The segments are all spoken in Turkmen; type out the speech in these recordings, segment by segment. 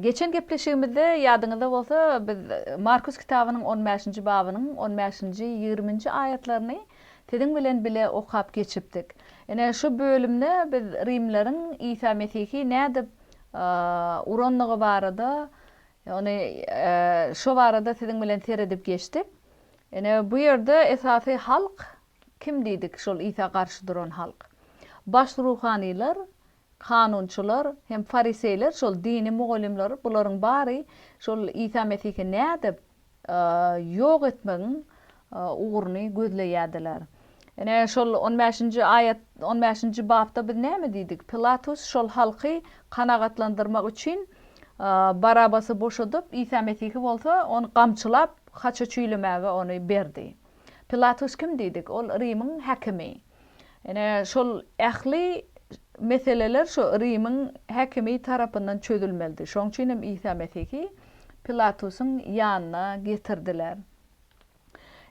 Geçen gepleşigimizde, ýadyňyzda bolsa, biz Markus kitabynyň on bäşinji babynyň on bäşinji, ýigriminji aýatlaryny siziň bilen bile okap geçipdik. Ine, şu bölümde biz rimleriň Isa Mesihi nädip urandygy barada, ýagny şo barada siziň bilen seredip geçdik. Ine, bu ýerde esasy halk kim diýdik, şol Isa garşy duran halk? Baş ruhanylar Kanunçylar hem fariseýler şol dini mugallymlar bularyň bary şol Isa Mesihi nädip ýok etmegiň ugruny gözleýärdiler. Ine şol on bäşinji aýat on bäşinji bapda biz näme diýdik? Pilatus şol halky kanagatlandyrmak üçin Barabasy boşadyp Isa Mesihi bolsa ony gamçylap haça çüýlemäge ony berdi. Pilatus kim diýdik? Ol Rimiň häkimi. Ine, şol ähli meseleler şu Rimiň häkimi tarapyndan çözülmelidi. Şoň üçin hem Isa Mesihi Pilatusyň ýanyna getirdiler.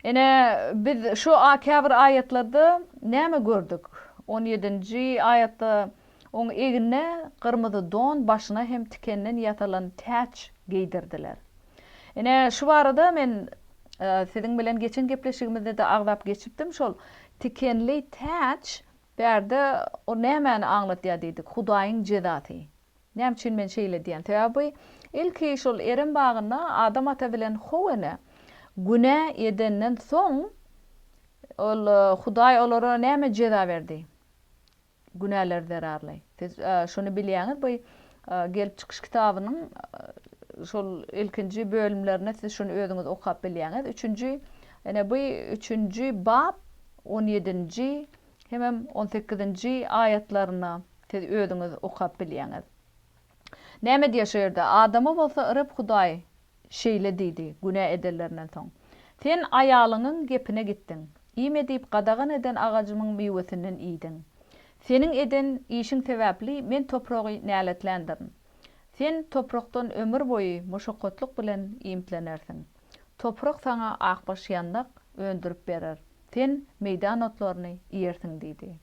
Ine, biz şu käbir aýatlarda näme gördük? On ýedinji aýatda Oň egnine gyrmyzy don, başyna hem tikenden ýasalan täç geýdirdiler. Ine, şu barada men siziň bilen geçen gepleşigimizde-de agzap geçipdim, şol tikenli täç bärde o nämäni aňladýar diýdik, Hudaýyň jezasy. Näme üçin men şeýle diýýän? Sebäbi ilki şol Erem bagynda Adam ata bilen How ene günä edenden soň, ol Hudaý olara näme jeza berdi? Günäler zerarly. Siz şuny bilýäňiz, bu Gelip çykyş kitabynyň şol ilkinji bölümlerinde siz şuny özüňiz okap bilýäňiz. Üçünji, ene bu üçünji bap on ýedinji hemem on sekizinji aýatlaryna siz özüňiz okap bilýäňiz. Näme edýär şu ýerde? Adama bolsa Reb Hudaý şeýle diýdi, Günä edenlerinden soň, sen aýalyňyň gepine gitdiň, iýme diýip gadagan eden agajymyň miwesinden iýdiň. Seniň eden işiň sebäpli Men topragy näletländirin. Sen toprakdan ömür boýy muşakgatlyk bilen iýmitlenersiň. Toprak saňa akbaş ýandak öndürip berer, sen meýdan otlaryny iýersiň diýdi.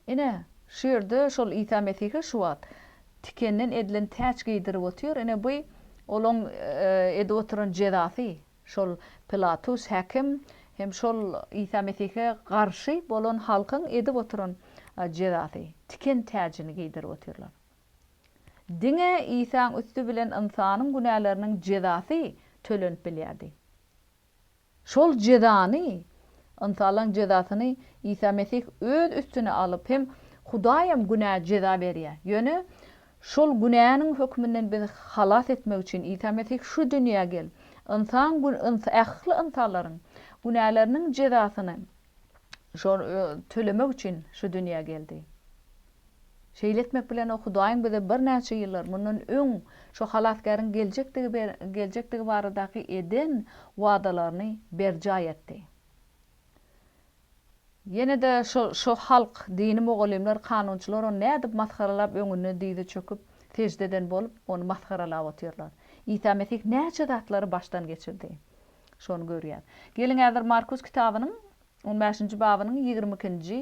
Ine, şu ýerde şol Isa Mesihe şu wagt tikenden edilen täç geýdirip otyr. Ine, bu Olaň edip oturan jezasy. Şol Pilatus häkim hem şol Isa Mesihe garşy bolan halkyň edip oturan jezasy. Tiken täjini geýdirip otyrlar. Diňe Isaň üsti bilen ynsanyň günäleriniň jezasy tölenip bilýärdi. Şol jezany, ynsanlaryň jezasyny Isa Mesih öz üstüne alyp hem Hudaýam günä jeza berýär. Ýöne şol günäniň hökmünden bizi halas etmek üçin Isa Mesih şu dünýä gel, ynsan ähli ynsanlaryň günäleriniň jezasyny şol tölemek üçin şu dünýä geldi. Şeýle etmek bilen o Hudaýyň bize birnäçe ýyllar mundan öň şu Halasgäriň geljekdigi baradaky eden wadalaryny berjaý etdi. Ýene-de şu halk, dini mugallymlar, kanunçylar ony nädip masgaralap, öňünde dyzy çöküp, sežde eden bolup, ony masgaralap otyrlar. Isa Mesih näçe zatlary başdan geçirdi. Şony görýäs. Geliň häzir Markus kitabynyň On bäşinji babynyň ýigrimi ikinji,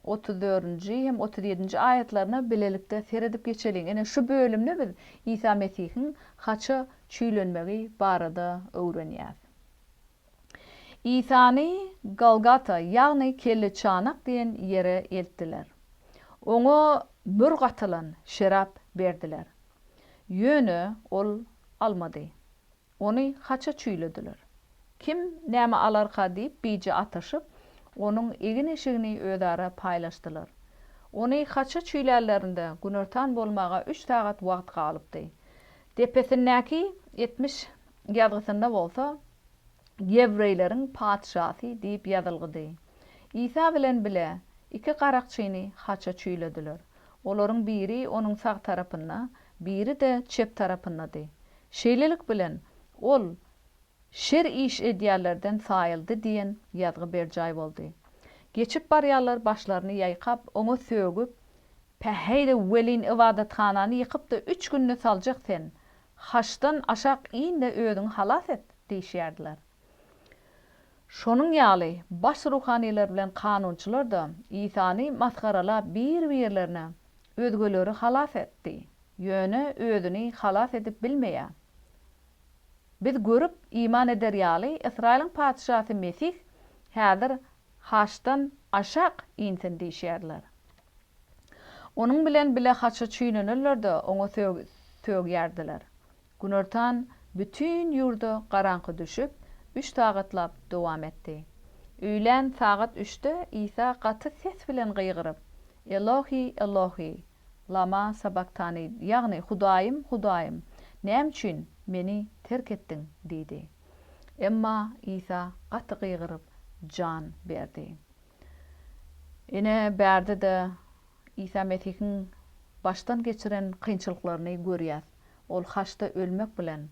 otuz dördünji hem otuz ýedinji aýatlaryna bilelikde seredip geçeliň. Ine, şu bölümde biz Isa Mesihiň haça çüýlenmegi barada öwrenýäs. Isany Golgata, ýagny Kelleçanak diýen ýere eltdiler. Oňa mür gatylan şerap berdiler. Ýöne ol almady. Ony haça çüýlediler. Kim näme alarka diýip bije ataşyp, onuň egin-eşigini özara paýlaşdylar. Ony haça çüýlärlerinde günortan bolmaga üç sagat wagt galypdy. Depesindäki etmiş ýazgysynda bolsa, Ýewreýleriň patyşasy diýip ýazylgydy. Isa bilen bile iki garakçyny haça çüýlediler. Olaryň biri onuň sag tarapynda, biri-de çep tarapyndady. Şeýlelik bilen, ol şer iş edýänlerden saýyldy diýen ýazgy berjaý boldy. Geçip barýanlar başlaryny ýaýkap, oňa sögüp. Päheý-de welin ybadathanany ýykyp-da üç günde saljak sen, haçdan aşak in-de özüňi halas et! diýişýärdiler. Şonuň ýaly, baş ruhanylar bilen kanunçylar-da Isany masgaralap bir-birlerine, Özgeleri halas etdi, ýöne özüni halas edip bilmeýär. Biz görüp, iman eder ýaly, Ysraýylyň Patyşasy Mesih häzir haçdan aşak insin diýişýärler. Onuň bilen bile haça çüýnenenler-de oňa sögýärdiler. Günortan bütin ýurda garaňky düşüp, üç sagatlap dowam etdi. Öýlän sagat üçde Isa gaty ses bilen gygyryp, Elohi, Elohi, lama sabaktani, ýagny Hudaýym, Hudaýym, näme üçin Meni terk etdiň? diýdi. Emma Isa gaty gygyryp, jan berdi. Ine, bärde-de Isa Mesihiň başdan geçiren kynçylyklaryny görýäs. ol haçda ölmek bilen,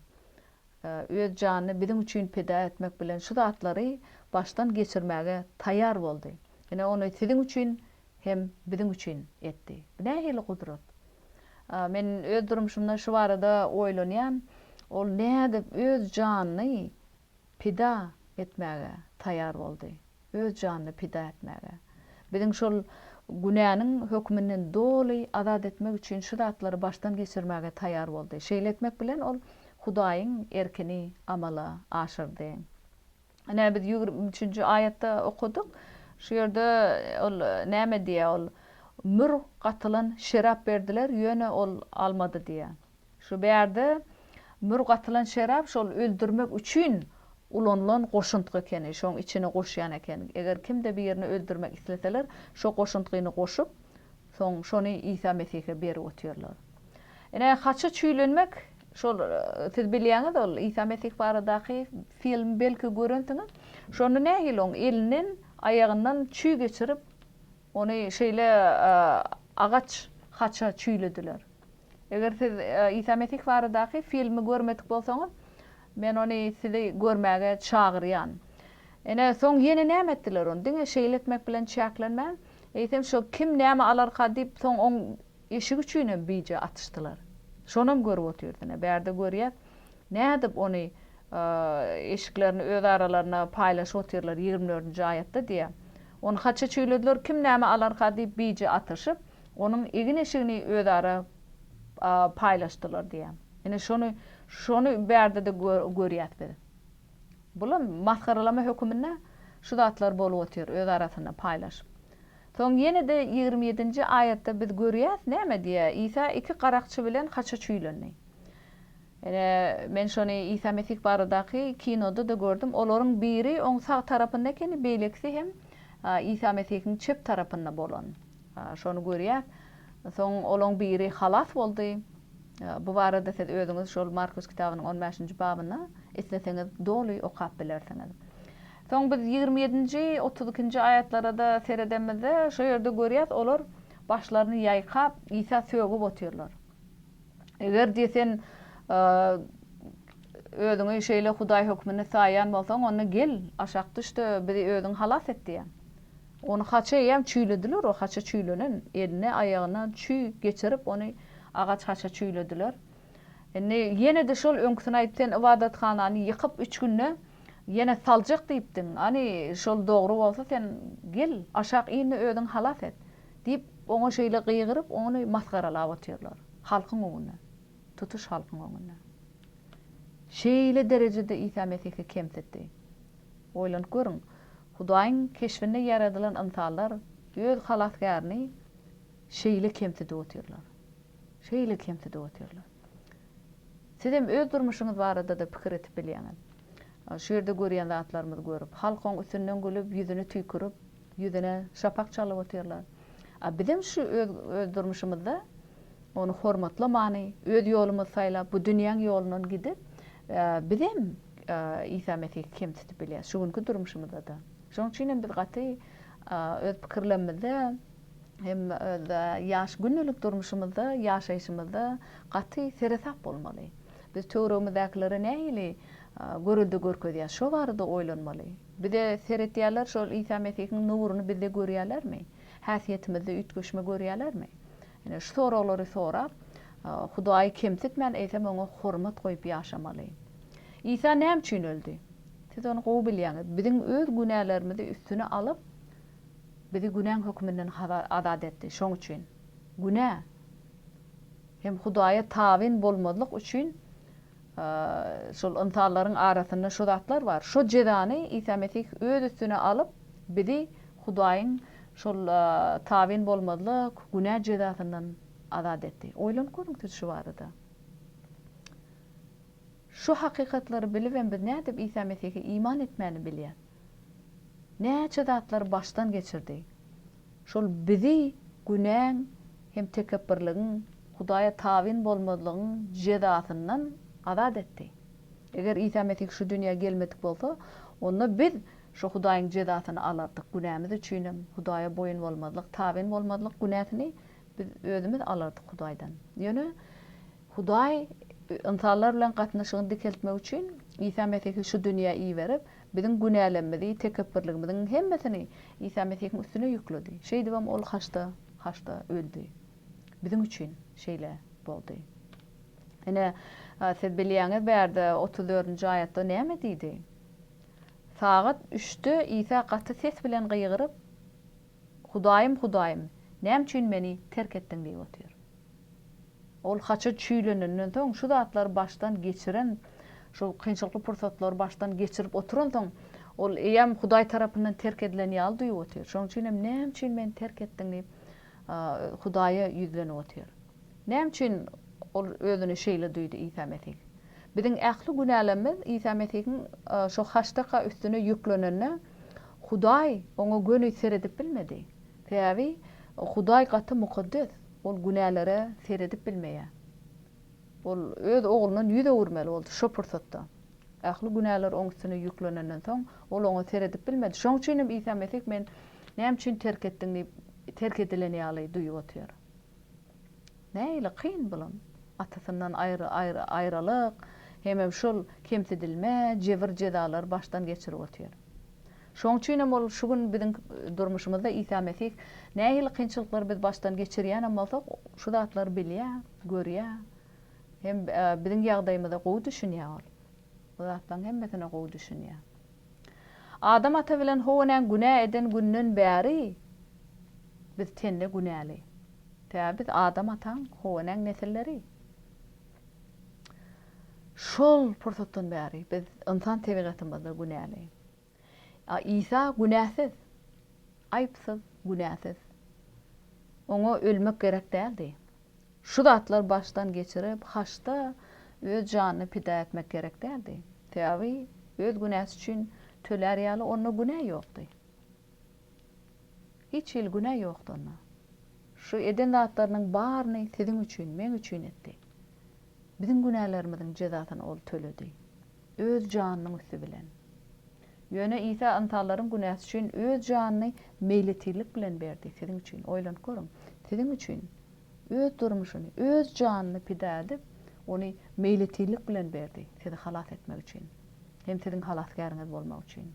öz janyny biziň üçin pida etmek bilen şu zatlary başdan geçirmäge taýýar boldy. Ine, ony siziň üçin hem biziň üçin etdi. Bu nähili gudrat? Men öz durmuşymda şu barada oýlanýan, ol nädip öz janyny pida etmäge taýýar boldy, öz janyny pida etmäge. Biziň şol günäniň höküminden doly azat etmek üçin şu zatlary başdan geçirmäge taýýar boldy. Şeýle etmek bilen ol Hudaýyň erkini amala aşyrdy. Ine biz ýigrimi üçünji aýatda okadyk. Şu ýerde ol näme diýýär? Ol, Mür gatylan şerap berdiler, ýöne ol almady diýýär. Şu bärde mürg atylan şerap şol öldürmek üçin ulanylan goşuntgy ekeni, şoň içine goşýan eken. Eger kimde birini öldürmek isleseler, şo goşuntgyny goşup, soň şony Isa Mesihe berip otyrlar. Ine, haça çüýlenmek, şol siz bilýäňiz ol Isa Mesih baradaky film belki görensiňiz. Şonda nähili oň elinden, aýagyndan çüý geçirip, Ony şeýle agaç haça çüýlediler. Eger siz Isa Mesih baradaky filmi görmedik bolsaňyz, men ony sizi görmäge çagyrýan. Ine, soň ýene näme etdiler? Ony diňe şeýle etmek bilen çäklenmän, eýsem şo kim näme alarka diýip, soň oň eşigi üçin hem bije atyşdylar. Şonam görüp otyrys. Ine, bärde görýäs, nädip ony eşiklerini öz aralaryna paýlaşyp otyrlar, ýigrimi dördünji aýatda diýýär. Ony haça çüýlediler, kim näme alarka diýip bije atyşyp, onuň egin-eşigini özara paýlaşdylar diýýär. Ine şony, şony bärde-de görýäs biz. Bulam masgaralama höküminde şu zatlar bolup otyr, öz arasynda paýlaşyp. Soň ýene-de ýigrimi ýedinji aýatda biz görýäs näme diýýär, Isa iki garakçy bilen haça çüýlendi. Ine, men şony Isa Mesih baradaky kinoda-da gördüm. Olaryň biri oň sag tarapynda ekeni, beýlekisi hem Isa Mesihiň çep tarapynda bolan. Şony görýäs. Soň olaň biri halas boldy. Bu barada siz özüňiz şol Markus kitabynyň on bäşinji babynda isleseňiz doly okap bilersiňiz. Soň biz ýigrimi ýedinji, otuz ikinji aýatlara-da seredemizde, şo ýerde görýäs, olar başlaryny ýaýkap, Isa sögüp otyrlar. Eger diýe sen özüňi şeýle Hudaý hökmünde saýýan bolsaň, onda gel, aşak düş-de, bizi özüň halas et diýýär. Ony haça eýýäm çüýlediler, o haça çüýlenen, eline, aýagyna çüý geçirip, ony agaç haça çüýlediler. Indi ýene-de şol öňküsini aýt, sen ybadathanany ýykyp, üç günde ýene saljak diýipdiň. Hany, şol dogry bolsa, sen gel, aşak in-de, özüň halas et. Diýip, oňa şeýle gygyryp, ony masgaralap otyrlar. Halkyň öňünde. Tutuş halkyň öňünde. Şeýle derejede Isa Mesihi kemsitdi. Oýlanyp görüň, Hudaýyň keşbinde ýaradylan ynsanlar öz Halasgärini şeýle kemsidip otyrlar. Şeýle kemsidip otyrlar. Sizem öz durmuşyňyz barada-da pikir etip bilýäňiz. Şu ýerde görýän zatlarymyzy görüp, halk oň üstünden gülüp, ýüzüni tüýkürip, ýüzüne şapak çalyp otyrlar. A bizem şu öz öz durmuşymyzda ony hormatlamany, öz ýolumyzy saýlap, bu dünýäň ýolundan gidip, bizem Isa Mesihi kemsitip bilýäs, şu günki durmuşymyzda-da. Şonuň üçinem biz gaty öz pikirlemizde hem özde ýaş gündelik durmuşymyzda, ýaşaýşymyzda gaty seresap bolmaly. Biz töweregimizdäkilere nähili görelde görkezýäs, şo barada oýlanmaly. Bize seretýärler, şol Isa Mesihiň nuruny bizde görýärlermi? Häsiýetimizde üýtgeşme görýärlermi? Ine, şu soraglary sorap, Hudaýy kemsitmän, eýsem, oňa hormat goýup ýaşamaly. Isa näme üçin öldi? Siz ony gowy bilýäňiz. Biziň öz günälerimizi üstüne alyp, Bizi günäň hökmünden azat etdi. Şoň üçin, günä hem Hudaýa tabyn bolmazlyk üçin şol ynsanlaryň arasynda şu zatlar bar. Şu jezany Isa Mesih öz üstüne alyp, bizi Hudaýyň şol tabyn bolmazlyk, günä jezasyndan azat etdi. Oýlanyp görüň siz şu barada. Şu hakykatlary bilibem biz nädip Isa Mesihe iman etmäni bilýän? Näçe zatlar başdan geçirdi. Şol bizi günäň hem tekepbirligiň, Hudaýa tabyn bolmazlygyň jezasyndan azat etdi. Eger Isa Mesih şu dünýä gelmedik bolsa, onda biz şu Hudaýyň jezasyny alardyk, günämiz üçinem Hudaýa boýun bolmazlyk, tabyn bolmazlyk günäsini biz özümiz alardyk Hudaýdan. Ýöne Hudaý ynsanlar bilen gatnaşygyny dikeltmek üçin Isa Mesihi şu dünýä iberip, Biziň günälemmizi, tekepbirligimiziň hemmesini Isa Mesihiň üstüne ýükledi. Şeýdibem Ol haçda, haçda öldi. Biziň üçin şeýle boldy. Ine, siz bilýäňiz bärde otuz dördünji aýatda näme diýdi? Sagat üçde Isa gaty ses bilen gygyryp. Hudaýym, Hudaýym, näme üçin meni terk etdiň diýip otyr. Ol haça çüýlenenden soň, şu zatlary başdan geçiren, şu kynçylykly pursatlary başdan geçirip oturansoň, ol eýýäm Hudaý tarapyndan terk edilen ýaly duýup otyr. Şonuň üçin hem, Näme üçin meni terk etdiň diýip, Hudaýa ýüzlenip otyr. Näme üçin ol özüni şeýle duýdy Isa Mesih? Biziň ähli günälerimiz Isa Mesihiň şo haştaka üstüne ýüklenende, Hudaý oňa göni seredip bilmedi. Sebäbi Hudaý gaty mukaddes, ol günälere seredip bilmeýär. Ol öz Oglundan ýüz öwürmeli boldy şo pursatda. Ähli günäler oň üstüne ýüklenenden soň, ol oňa seredip bilmedi. Şonuň üçin hem Isa Mesih men näme üçin terk etdiň diýip, terk edilen ýaly duýup otyr. Nähili kyn bulam. Atasyndan aýralyk, hemem şol kemsidilme, jebir jezalar başdan geçirip otyr. Şoň üçinem ol şu gün biziň durmuşymyzda Isa Mesih nähili kynçylyklary biz başdan geçirýänem bolsak, şu zatlary bilýä, görýä. Hem biziň ýagdaýymyza gowy düşünýä ol. Bu zatlaryň hemmesine gowy düşünýä. Adam ata bilen Howa näň günä eden günden bäri biz tende günäli. Sebäbi biz Adam ataň, Howa näň nesilleri. Şol pursatdan bäri biz ynsan tebigatymyzda günäli. A Isa günäsiz, aýypsyz, günäsiz. Oňa ölmek gerek däldi. Şu zatlary başdan geçirip, haçda öz janyny pida etmek gerek däldi. Sebäbi öz günäsi üçin tölär ýaly onda günä ýokdy. Hiç hili günä ýokdy onda. Şu eden zatlarynyň baryny siziň üçin, meň üçin etdi. Biziň günälerimiziň jezasyny ol töledi. Öz janynyň üsti bilen. Ýöne Isa ynsanlaryň günäsi üçin öz janyny meýletirlik bilen berdi, siziň üçin. Oýlanyp görüň. Siziň üçin. Öz durmuşyny, öz janyny pida edip, ony meýletinlik bilen berdi, sizi halas etmek üçin, hem siziň halasgäriňiz bolmak üçin.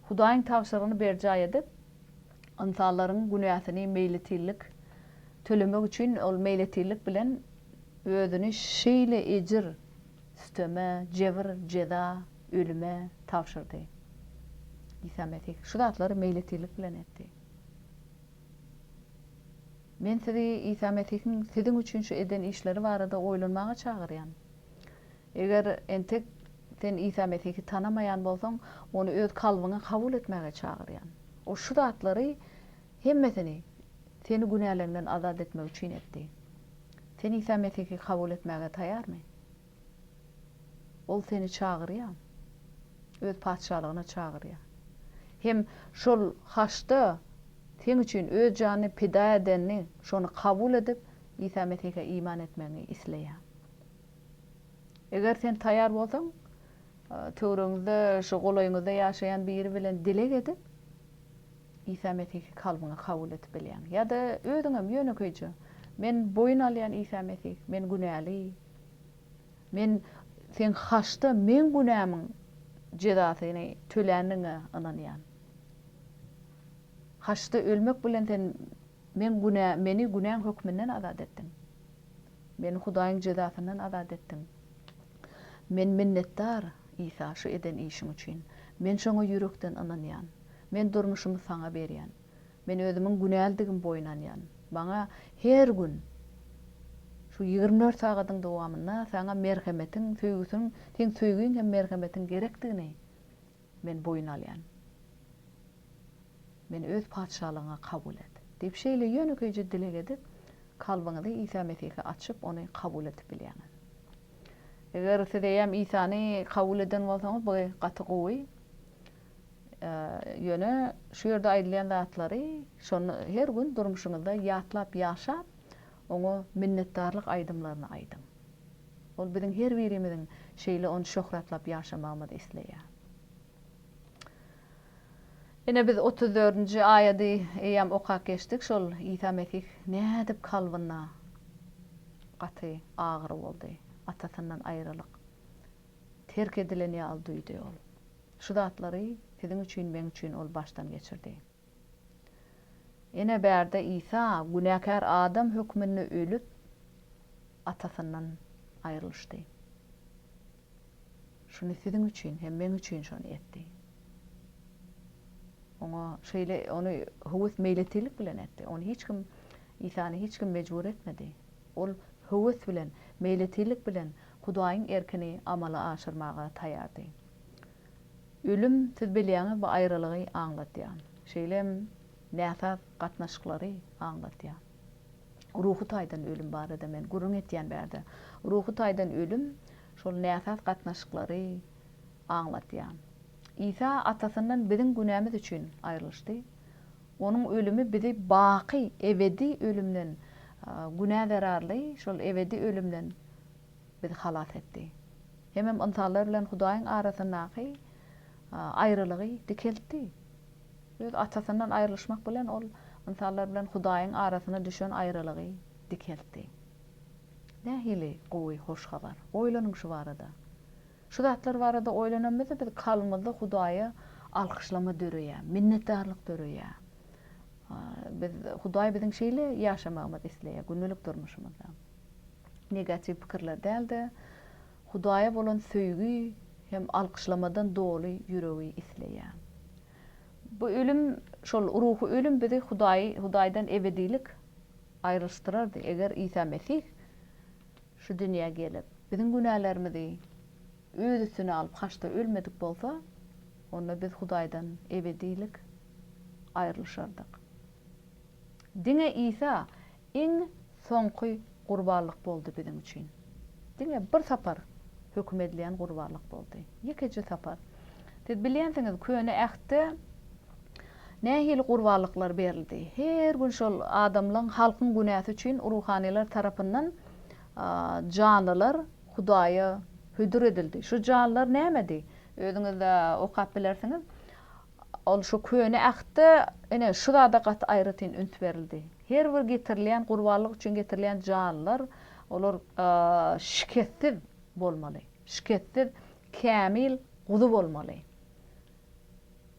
Hudaýyň tabşyrygyny berjaý edip, ynsanlaryň günäsini meýletinlik tölemek üçin ol meýletinlik bilen özüni şeýle ejir, süteme, jebir, jeza, ölüme tabşyrdy. Isa Mesih şu zatlary meýletinlik bilen etdi. Men sizi Isa Mesihiň siziň üçin şu eden işleri barada oýlanmaga çagyrýan. Eger entek sen Isa Mesihi tanamaýan bolsaň, Ony öz kalbyňa kabul etmäge çagyrýan. O şu zatlary hemmesini seni günäleňden azat etmek üçin etdi. Sen Isa Mesihi kabul etmäge taýarmy? Ol seni çagyrýar. Öz Patyşalygyna çagyrýar. Hem şol haçda Sen üçin Öz janyny pida edeni, şony kabul edip, Isa Mesihe iman etmegiňi isleýär. Eger sen taýar bolsaň, töwregiňizde, şu golaýyňyzda ýaşaýan biri bilen dileg edip, Isa Mesihi kalbyňa kabul edip bilýäň. Ýa-da özüňem ýönekeýje, Men boýun alýan Isa Mesih, men günäli. Men Seň haçda meň günämiň jezasyny töländigiňe ynanýan. Haçda ölmek bilen Sen meň günä meni günäň hökmünden azat etdiň. Meni Hudaýyň jezasyndan azat etdiň. Men minnetdar, Isa, şu eden işiň üçin. Men şoňa ýürekden ynanýan. Men durmuşymy Saňa berýän. Men özümiň günälidigimi boýun alýan. Maňa her gün şu ýigrimi dört sagadyň dowamynda saňa merhemetiň, söýgüsiň, seň söýgiň hem merhemetiň gerekdigini men boýun alýan. Meni öz patyşalygyňa kabul et. Diýip şeýle ýönekeýje dileg edip, kalbyňyzy Isa Mesihe açyp, ony kabul edip bilýäňiz. Eger siz eýýäm Isany kabul eden bolsaňyz, bu gaty gowy. Ýöne şu ýerde aýdylýan zatlary şonda her gün durmuşyňyzda ýatlap ýaşap, oňa minnetdarlyk aýdymlaryny aýdyň. Ol biziň her birimiziň şeýle ony şöhratlap ýaşamagymyzy isleýär. Ine biz otuz dördünji aýady eýýäm okap geçdik. Şol Isa Mesih nädip kalbyna gaty agyry boldy, Atasyndan aýralyk. terk edilen ýaly duýdy ol. Şu zatlary siziň üçin, meň üçin ol başdan geçirdi. Ene bärde Isa günäkär adam hökmünde ölüp, Atasyndan aýrylyşdy. Şuny siziň üçin hem meň üçin şony etdi. Oňa şeýle ony höwes meýletinlik bilen etdi. Ony hiç kim Isany hiç kim mejbur etmedi. Ol höwes bilen, meýletinlik bilen Hudaýyň erkini amala aşyrmaga taýýardy. Ölüm, siz bilýäňiz, bu aýralygy aňladýar. Şeýle hem näsaz gatnaşyklary aňladýar. Ruhy taýdan ölüm barada men gürrüň etýän bärde. Ruhy taýdan ölüm şol näsaz gatnaşyklary aňladýar. Isa Atasyndan biziň günämiz üçin aýrylyşdy. Onuň ölümi bizi baky, ebedi ölümden, günä zerarly şol ebedi ölümden bizi halas etdi. Hemem ynsanlar bilen Hudaýyň arasyndaky aýralygy dikeltdi. Öz Atasyndan aýrylyşmak bilen ol ynsanlar bilen Hudaýyň arasyna düşen aýralygy dikeltdi. Nähili gowy hoş habar! Oýlanyň şu barada. Şu zatlar barada oýlanamyzda biz kalbymyzda Hudaýa alkyşlama döreýär, minnetdarlyk döreýär. Biz Hudaý biziň şeýle ýaşamagymyzy isleýär gündelik durmuşymyzda. Negatiw pikirler däl-de, Hudaýa bolan söýgi hem alkyşlamadan doly ýüregi isleýär. Bu ölüm, şol ruhy ölüm bizi Hudaýy, Hudaýdan ebedilik aýrylyşdyrardy, eger Isa Mesih Şu dünýä gelip, biziň günälerimizi Öz üstüne alyp, haçda ölmedik bolsa, onda biz Hudaýdan ebedilik aýrylyşardyk. Diňe Isa iň soňky gurbanlyk boldy biziň üçin. Diňe bir sapar höküm edilen gurbanlyk boldy. Ýekeje sapar. Siz bilýänsiňiz, Köne Ähtde Nähili gurbanlyklar berildi? Her gün şol adamlaň, halkyň günäsi üçin ruhanylar tarapyndan janlylar Hudaýa hödür edildi. Şu janlylar nämedi? Özüňiz-de okap bilersiňiz. Ol şu Köne Ähtde ine şu zada gaty aýratyn üns berildi. Her bir getirilýän gurbanlyk üçin getirilýän janlylar, olar şikessiz bolmaly. Şikessiz, kämil guzy bolmaly.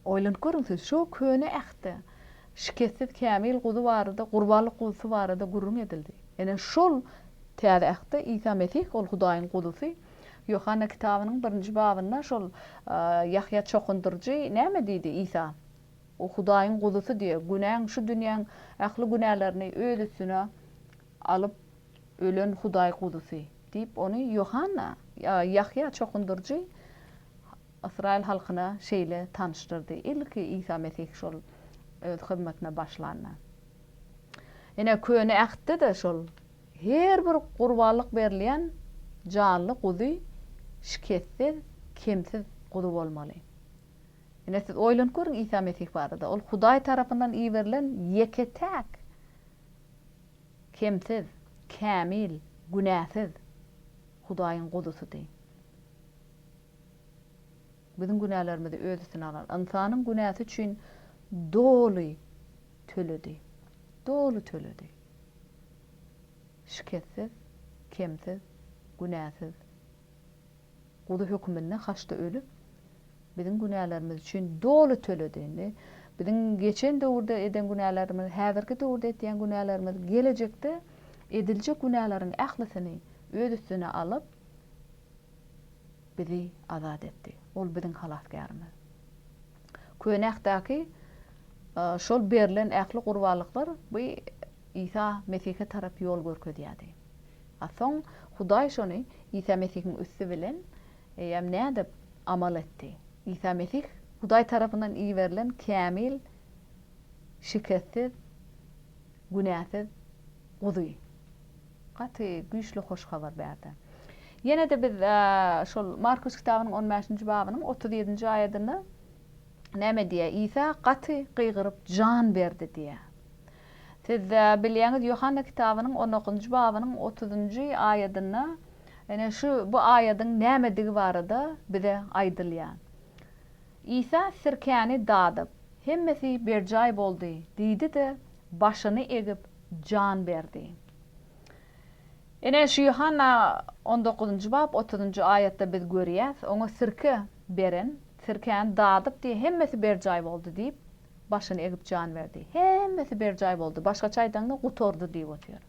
Oýlanyp görüň siz, şo köne Ähtde şikessiz kämil guzy barada, gurbanlyk guzusy barada gürrüň edildi. Ine, şol Täze Ähtde Isa Mesih, ol Hudaýyň Guzusy. Ýohanna kitabynyň birinji babynda şol Ýahýa çokundyryjy näme diýdi Isa? O Hudaýyň Guzusy diýýär. Günäň, şu dünýäň ähli günälerini öz üstüne alyp ölen Hudaý Guzusy diýip, ony Ýohanna, Ýahýa çokundyryjy Ysraýyl halkyna şeýle tanyşdyrdy, ilki Isa Mesih şol Öz hyzmatyna başlanda. Ine, Köne Ähtde-de şol her bir gurbanlyk berilýän janly guzy şikessiz, kemsiz guzy bolmaly. Ine, siz oýlanyp görüň Isa Mesih barada. Ol Hudaý tarapyndan iberilen ýeke-täk kemsiz, kämil, günäsiz Hudaýyň Guzusydy. Biziň günälerimizi Öz üstüne alan, ynsanyň günäsi üçin doly töledi. Doly töledi. Şikessiz, kemsiz, günäsiz Guzy höküminde haçda ölüp, biziň günälerimiz üçin doly töledi. Indi biziň geçen döwürde eden günälerimiz, häzirki döwürde etýän günälerimiz, gelejekde ediljek günäleriň ählisini Öz üstüne alyp, bizi azat etdi. Ol biziň Halasgärimiz. Köne Ahddaki şol berlen ähli gurbanlyklar bu Isa Mesihe tarap ýol görkezýärdi. A soň Hudaý şony Isa Mesihiň üsti bilen eýýäm nädip amal etdi? Isa Mesih Hudaý tarapyndan iberilen kämil, şikessiz, günäsiz Guzy. Gaty güýçli hoş habar bärde. Ýene-de biz şol Markus kitabynyň on bäşinji babynyň otuz ýedinji aýadynda näme diýýär? Isa gaty gygyryp jan berdi diýýär. Siz bilýäňiz, Ýohanna kitabynyň on dokuzynjy babynyň otuzynjy aýadynda ene şu bu aýadyň nämedigi barada bize aýdylýar. Isa sirkäni dadyp, Hemmesi berjaý boldy diýdi-de, başyny egip, jan berdi. Ine, şu Ýohanna on dokuzynjy bap otuzynjy aýatda biz görýäs, oňa sirke beren, sirkäni dadyp diýip, Hemmesi berjaý boldy diýip, başyny egip jan berdi. Hemmesi berjaý boldy, başgaça aýdaňda, gutardy diýip otyr.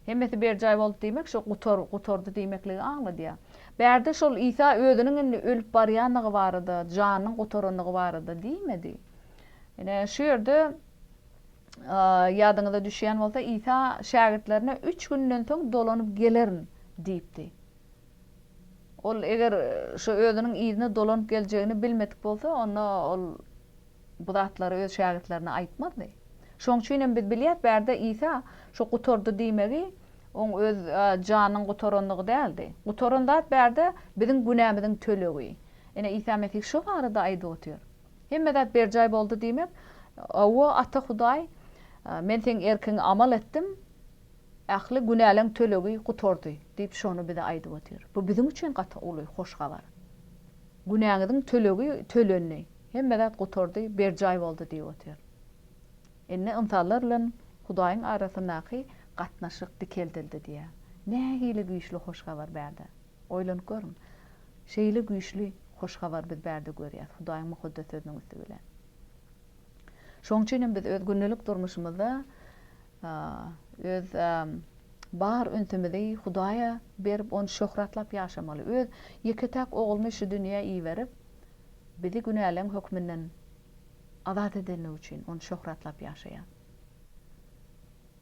Hemmesi berjaý boldy diýmek şu gutar gutardy diýmekligi aňladýar. Bärde şol Isa özüniň indi ölüp barýandygy barada, janynyň gutarandygy barada diýmedi. Ine şu ýerde ýadyňyza düşýän bolsa Isa şägirtlerine üç günden soň dolanyp gelerin diýipdi. Ol eger şu özüniň yzyna dolanyp geljegini bilmedik bolsa onda ol bu zatlary öz şägirtlerine aýtmazdy. Şoň üçin hem biz bilýäris, bärde Isa şu gutardy diýmegi oň öz janynyň gutarandygy däldi. Gutaran zat bärde biziň günämiziň tölegi. Ine, Isa Mesih şo barada aýdyp otyr. Hemme zat berjaý boldy diýmek, Hawa, Ata Hudaý, men seň erkiňe amal etdim, ähli günäleň tölegi gutardy diýip şony bize aýdyp otyr. Bu biziň üçin gaty uly hoş habar. Günäňiziň tölegi tölendi. Hemme zat gutardy, berjaý boldy diýip otyr. Indi ynsanlar bilen Hudaýyň arasyndaky gatnaşyk dikeldildi diýýär. Nähili güýçli hoş habar bärde! Oýlanyp görüň! Şeýle güýçli hoş habary biz bärde görýäris, Hudaýyň Mukaddes Sözüniň üsti bilen. Şonuň üçin hem biz öz gündelik durmuşymyzda öz bar ünsümizi Hudaýa berip, ony şöhratlap ýaşamaly. Öz ýeke-täk Ogluny şu dünýä iberip, Bizi günäleň hökmünden azat edeni üçin Ony şöhratlap ýaşaýar.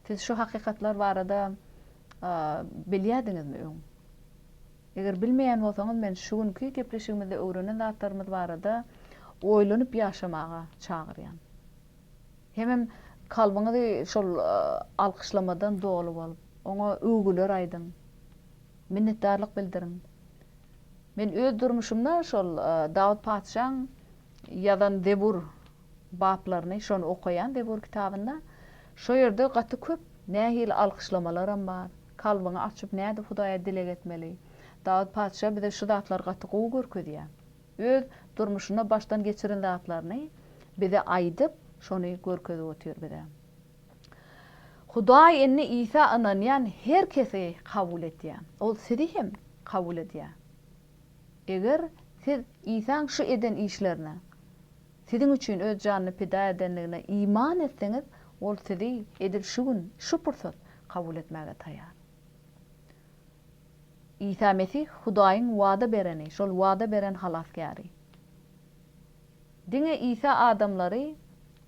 Siz şu hakykatlar barada bilýärdiňizmi öň? Eger bilmeýän bolsaňyz, men şu günki gepleşigimizde öwrenen zatlarymyz barada oýlanyp ýaşamaga çagyrýan. Hemem kalbyňyzy şol alkyşlamadan doly bolup, Oňa öwgüler aýdyň. Minnetdarlyk bildiriň. Men öz durmuşymda şol Dawut patyşaň ýazan Zebur baplaryny, şony okaýan Zebur kitabynda. Şo ýerde gaty köp nähili alkyşlamalaram bar. Kalbyňy açyp nädip Hudaýa dileg etmeli. Dawut patyşa bize şu zatlary gaty gowy görkezýär. Öz durmuşynda başdan geçiren zatlaryny bize aýdyp, şony görkezip otyr bize. Hudaý indi Isa ynanýan her kesi kabul etýär. Ol sizi hem kabul edýär. Eger siz Isaň şu eden işlerine, siziň üçin öz janyny pida edendigine iman etseňiz, ol sizi edil şu gün, şu pursat kabul etmäge taýar. Isa Mesih Hudaýyň wada bereni, şol wada beren Halasgäri. Diňe Isa adamlary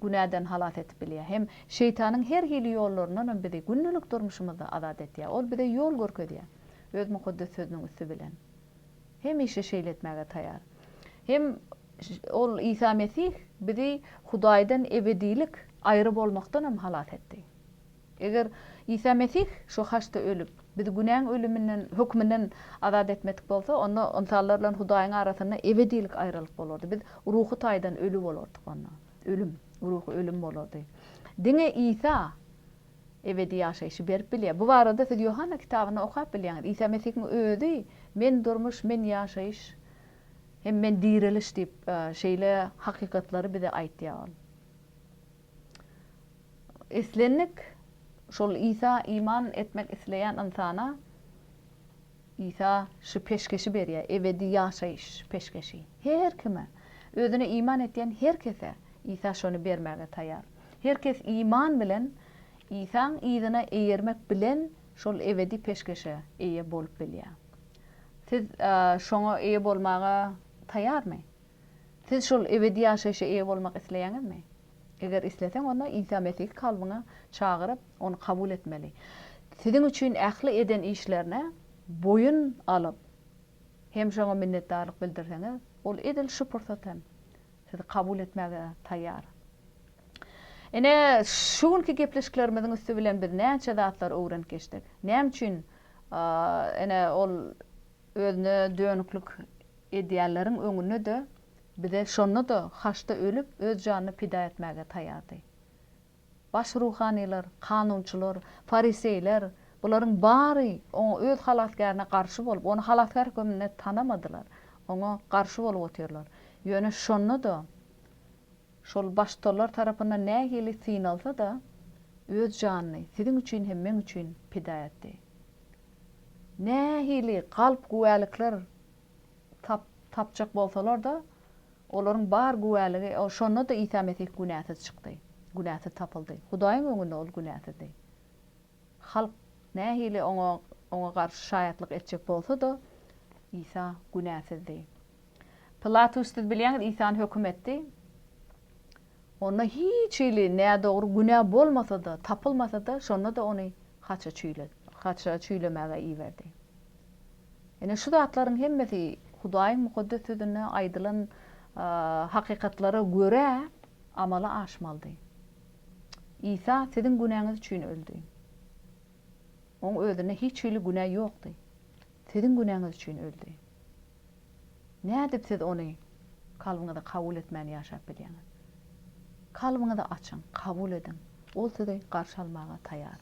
günäden halas edip bilýär. Hem Şeýtanyň her hili ýollaryndanam bizi gündelik durmuşymyzda azat etýär. Ol bize ýol görkezýär. Öz Mukaddes Sözüniň üsti bilen. Hemişe şeýle etmäge taýar. Hem Ol, Isa Mesih, bizi Hudaýdan ebedilik aýry bolmakdanam halas etdi. Eger Isa Mesih şu haçda ölüp, bizi günäň ölüminden, hökmünden azat etmedik bolsa, onda ynsanlar bilen Hudaýyň arasynda ebedilik aýralyk bolardy. Biz ruhy taýdan öli bolardyk onda. Ölüm, ruhy ölüm bolardy. Diňe Isa ebedi ýaşaýşy berip bilýär. Bu barada siz Ýohanna kitabynda okap bilýäňiz. Isa Mesihiň özi Men durmuş, men ýaşaýyş hem men direliş diýip, şeýle hakykatlary bize aýtýar ol. Islendik şol Isa iman etmek isleýän ynsana Isa şu peşgeşi berýär, ebedi ýaşaýyş peşgeşi. Her kime, özüne iman etýän her kese Isa şony bermäge taýar. Her kes iman bilen Isaň yzyna eýermek bilen şol ebedi peşgeşe eýe bolup bilýär. Siz şoňa eýe bolmaga taýarmy? Siz şol ebedi ýaşaýşa eýe bolmak isleýäňizmi? Eger isleseň, onda Isa Mesihi kalbyňa çagyryp, ony kabul etmeli. Siziň üçin ähli eden işlerine boýun alyp, hem şoňa minnetdarlyk bildirseňiz, ol edil şu pursat hem sizi kabul etmäge taýýar. Ine, şu günki gepleşiklerimiziň üsti bilen biz näçe zatlar öwrenip geçdik. Näme üçin, ene, ol Özüne dönüklik edýänleriň öňünde-de, bize şonda-da haçda ölüp, öz janyny pida etmäge taýýardy. Baş ruhanylar, kanunçylar, fariseýler, bularyň bary Oňa Öz Halasgärine garşy bolup, Ony Halasgär hökmünde tanamadylar, Oňa garşy bolup otyrlar. Ýöne şonda-da Şol baştutallar tarapyndan nähili synalsa-da, öz janyny siziň üçin hem meň üçin pida etdi. Nähili galp güwälikler tap, tapjak bolsalar-da, olaryň bar güwäligi, şonda-da Isa Mesih günäsiz çykdy, günäsiz tapyldy. Hudaýyň öňünde ol günäsizdi. Halk nähili oňa oňa garşy şaýatlyk etjek bolsa-da, Isa günäsizdi. Pilatus siz bilýäňiz Isany höküm etdi. Onda hiç hili nädogry günä bolmasa-da, tapylmasa-da, şonda-da ony haça çüýle haça çüýlemäge iberdi. Ine şu zatlaryň hemmesi Hudaýyň Mukaddes Sözünde aýdylan hakykatlara görä amala aşmalydy. Isa siziň günäňiz üçin öldi. Oň özünde hiç hili günä ýokdy. Siziň günäňiz üçin öldi. Nädip siz ony kalbyňyza kabul etmän ýaşap bilýäňiz? Kalbyňyzy açyň, kabul ediň. Ol sizi garşy almaga taýar.